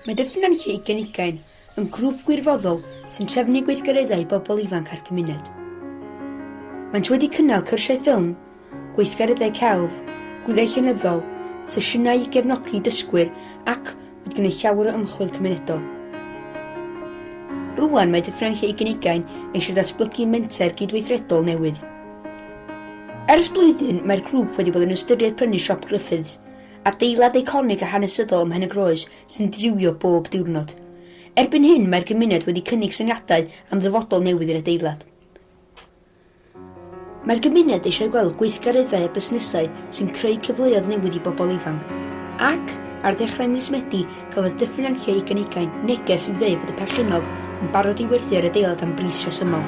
Mae dipyn yn lle i gynigain, yn grŵp gwirfoddol sy'n trefnu gweithgareddau i bobl ifanc a'r cymuned. Maent wedi cynnal cyrsiau ffilm, gweithgareddau celf, gwyliau llenyddol, sesiynau i gefnogi dysgwyr ac wedi gwneud llawer o ymchwil cymunedol. Rŵan mae Dyffryn Nantlle Ugain Ugain eisiau datblygu menter gydweithredol newydd. Ers blwyddyn mae'r grŵp wedi bod yn ystyried prynu siop Griffiths, adeilad eiconig a hanesyddol ym Mhenygroes sy'n dirywio bob diwrnod. Erbyn hyn mae'r gymuned wedi cynnig syniadau am ddyfodol newydd i'r adeilad. Mae'r gymuned eisiau gweld gweithgareddau a busnesau sy'n creu cyfleoedd newydd i bobl ifanc. Ac, ar ddechrau mis Medi, cafodd Dyffryn Ancre ugain ugain neges i'w ddweud fod y perchennog yn barod i werthu ar adeilad am bris rhesymol.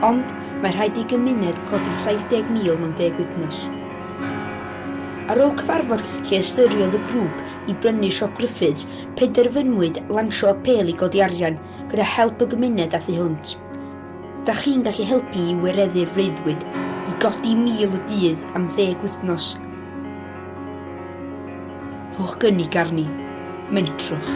Ond, mae rhaid i gymuned codi 70,000 mewn deg wythnos. Ar ôl cyfarfod lle ystyriodd y grŵp i brynu Siop Griffiths, penderfynwyd lansio apêl i godi arian gyda help y gymuned a thu hwnt. Da chi'n gallu helpu i wireddu'r freuddwyd i godi 1,000 y dydd am ddeg wythnos. Rhowch gynnig arni. Mentrwch.